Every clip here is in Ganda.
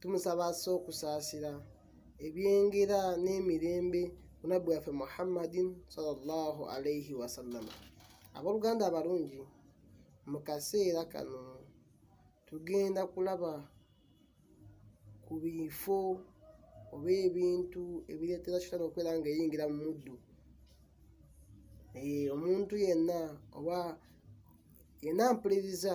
tumusaba assa okusaasira ebyengera n'emirembe munabbi waffe muhammadin salllahu alaihi wasallama abooluganda abalungi mu kaseera kano tugenda kulaba ku bifo oba ebintu ebireetera kitano okubeera nga eyingira mu muddu eh, omuntu yenna oba yenna mpuliriza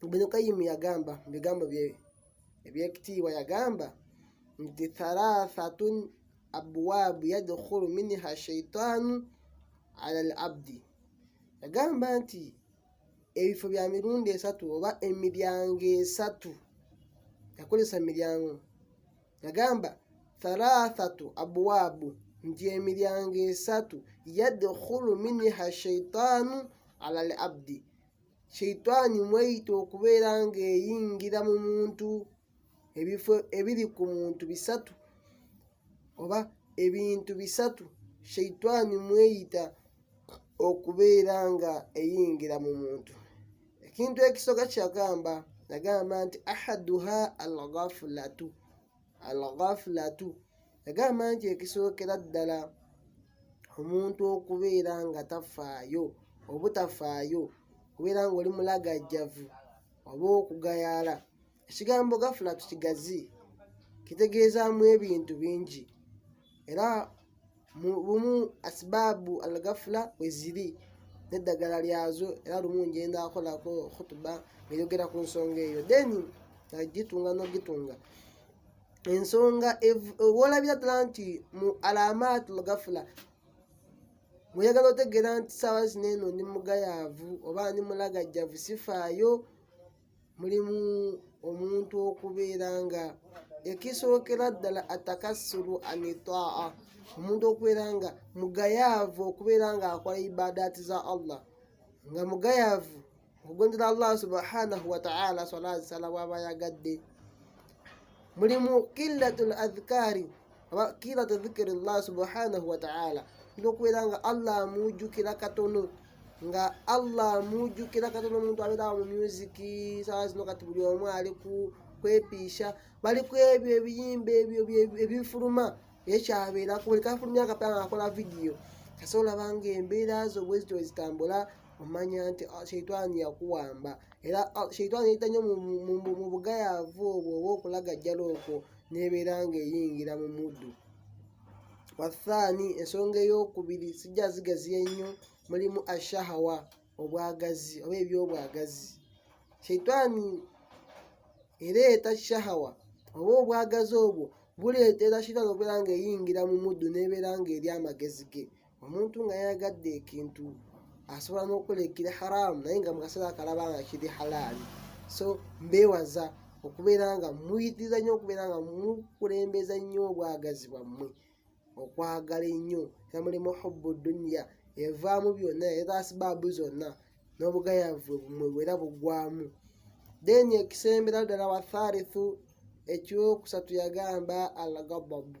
Ibn Qayyim yagamba mu bigambo bye ebyekitiibwa yagamba nti thalathatun abwaabu yadkhulu minha shaitaanu ala al abdi yagamba nti ebifo bya mirundi esatu oba emiryango esatu yakozesa miryango yagamba thalathatu abwabu nti emiryango esatu yadkhulu minha shaitaanu ala al abdi sheitaani mweyita okubeera ng'eyingira mu muntu ebifo ebiri ku muntu bisatu oba ebintu bisatu sheitaani mweyita okubeera nga eyingira mu muntu ekintu ekisoka kyagamba nagamba nti ahaduha alghafulatu alghafulatu yagamba nti ekisookera ddala omuntu okubeera nga tafaayo obutafaayo kubeera nga oli mulagajjavu oba okugayaala ekigambo gafulatu kigazi kitegeezaamu ebintu bingi era lumu asibaabu algafula weziri neddagala lyazo era lumu njenda akolako khutuba ngeyogera ku nsonga eyo then nagitunga nogitunga ensonga wolabira ddala nti mu alamat lgafula muyagala otegeera nti saawa zino eno ndi mugayaavu oba ndi mulagajjavu sifaayo mulimu omuntu okubeera nga ekisookera ddala atakassulu anitaa omuntu okubeera nga mugayaavu okubeera nga akola ibadaati za allah nga mugayaavu okugondera allah subhanahu wataala swala zisala bwaba yagadde mulimu killatul adhkari aba kilatu dhikri llah subhanahu wataala nti okubeera nga allah amujjukira katono nga allah amujjukira katono omuntu abeerawo mu myuziki sawa zino kati buli omu ali ku kwepiisha bali ku ebyo ebiyimba ebyo ebyo- ebifuluma ye kyabeerako buli kafulumya akapanga akola vidiyo kasa olaba nga embeera zo bwezityo wezitambula omanya nti ah, sheitaani yakuwamba era ah, sheitaani yayita nnyo mu bugayaavu obwo oba okulagajjala okwo nebeera ngaeyingira mu muddu wathaani ensonga eyokubiri sijja zigaziya ennyo mulimu ashahawa obwagazi oba ebyobwagazi sheitaani ereeta shahawa oba obwagazi obwo buleetera shitaani okubeera ngaeyingira mu muddu nebeera ngaeri amagezi ge omuntu nga yayagadde ekintu asobola n'okukola ekiri haraamu naye nga mukaseera akalaba nga kiri halaali so mbeewaza okubeera nga muyitiriza nnyo okubeera nga mukulembeza nnyo obwagazi bwammwe okwagala ennyo namulimu hubbu duniya evaamu byonna era asibaabu zonna n'obugayavu bumwe bwera bugwamu then ekisembera ddala wathalithu ekyokusatu yagamba alagababu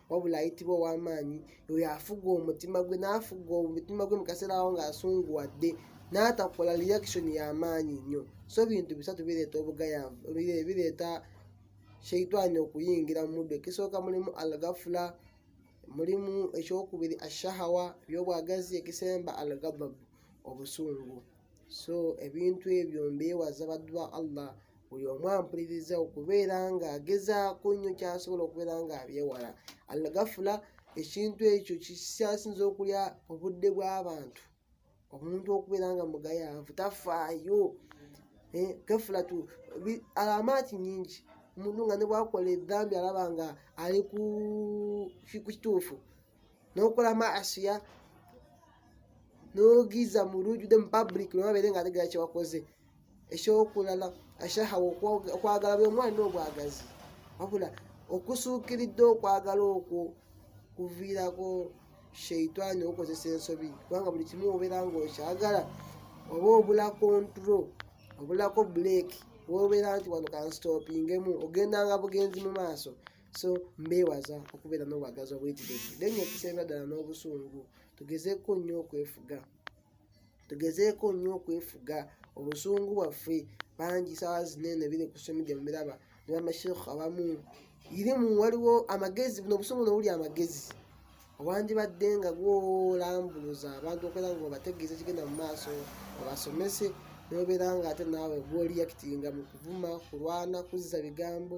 wabula ayitibwa ow'amaanyi oyo afuga omutima gwe n'afuga omutima gwe mu kaseera awo ng'asunguwadde n'atakola reaction y'amaanyi nnyo so bintu bisatu bireeta obugayanvu bireeta sheitani okuyingira mu muddu ekisooka mulimu algafula mulimu ekyokubiri ashahawa byobwagazi ekisemba algababu obusungu so ebintu ebyo mbeewaza baddu ba allah buli omu ampuliriza okubeera ng'agezaako nnyo kyasobola okubeera ng'abyewala algafula ekintu ekyo kikyasinza okulya obudde bw'abantu omuntu okubeera nga mugayaavu tafaayo eh, gafula tu alamaati nyingi omuntu nga ne bwakola edhambi alaba nga ali ku kituufu n'okola maasiya n'ogiza mu lujjude mu public nobabeere nga ategera kyewakoze ekyokulala ashahawa okwagala buli omwalina obwagazi wabula okusuukiridde okwagala okwo kuviirako sheitani okukozesa ensobi kubanga buli kimu obeera nga okyagala oba obula kontro obulako buleeki wobeera nti wano kanstopingemu ogendanga bugenzi mu maaso so mbeewaza okubeera n'obwagazi obuyitirivu naye nga ekisemba ddala n'obusungu tugezeeko nnyo okwefuga tugezeeko nnyo okwefuga obusungu bwaffe bangi saawa zinene biri ku social media mubiraba nebamashekhu abamu irimu waliwo amagezi buno obusungu nobuli amagezi owandibadde nga gwolambuluza abantu okwera nga obategeeza kigenda mu maaso obasomese nobeera nga ate naawe gwoliyakitinga mu kuvuma kulwana kuzza bigambo